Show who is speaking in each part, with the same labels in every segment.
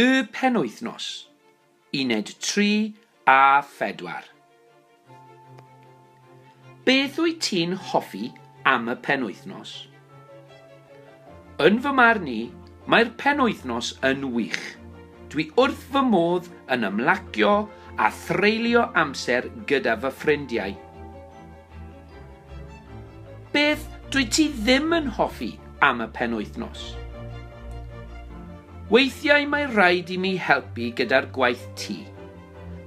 Speaker 1: Y penwythnos, uned tri a phedwar. Beth wyt ti'n hoffi am y penwythnos? Yn fy marn i, mae'r penwythnos yn wych. Dwi wrth fy modd yn ymlacio a threulio amser gyda fy ffrindiau. Beth dwyt ti ddim yn hoffi am y penwythnos? Weithiau mae rhaid i mi helpu gyda'r gwaith tŷ.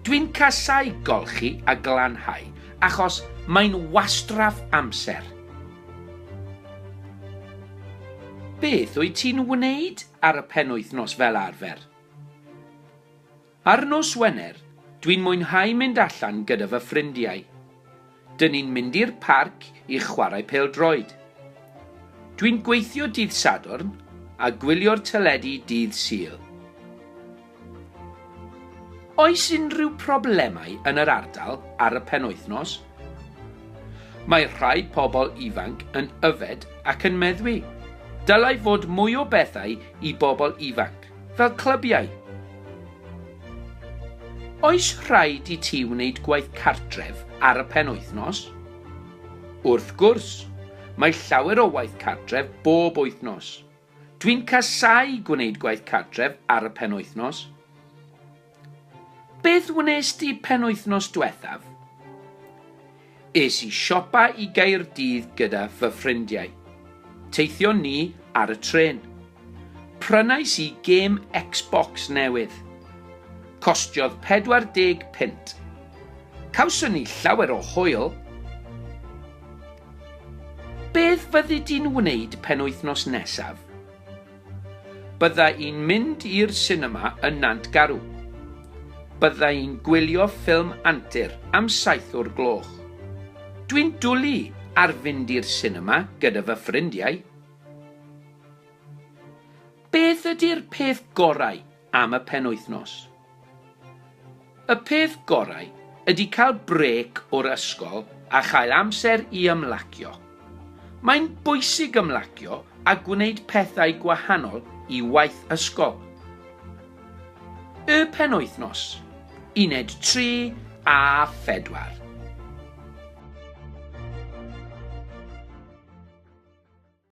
Speaker 1: Dwi'n casau golchi a glanhau achos mae'n wastraff amser. Beth wyt ti'n wneud ar y penwythnos fel arfer? Ar nos Wener, dwi'n mwynhau mynd allan gyda fy ffrindiau. Dyn ni'n mynd i'r parc i chwarae pêl-droed. Dwi'n gweithio dydd Sadwrn a gwylio'r teledu dydd Sul. Oes unrhyw problemau yn yr ardal ar y penwythnos? Mae rhai pobl ifanc yn yfed ac yn meddwi. Dylai fod mwy o bethau i bobl ifanc. fel clybiau. Oes rhaid i ti wneud gwaith cartref ar y penwythnos? Wrth gwrs, mae llawer o waith cartref bob wythnos. Dwi'n casáu gwneud gwaith cartref ar y penwythnos. Beth wnes di penwythnos dwethaf? Es i siopa i Gaerdydd gyda fy ffrindiau. Teithion ni ar y trên. Prynais i gêm Xbox newydd. Costiodd 40 punt. Cawson ni llawer o hwyl. Beth fyddi di'n wneud penwythnos nesaf? Bydda i'n mynd i'r sinema yn Nant Garw. Bydda i'n gwylio ffilm antur am saith o'r gloch. Dwi'n dwlu ar fynd i'r sinema gyda fy ffrindiau. Beth ydi'r peth gorau am y penwythnos. Y peth gorau ydy cael brêc o'r ysgol a chael amser i ymlacio. Mae'n bwysig ymlacio a gwneud pethau gwahanol i waith ysgol. Y penwythnos, uned 3 a 4.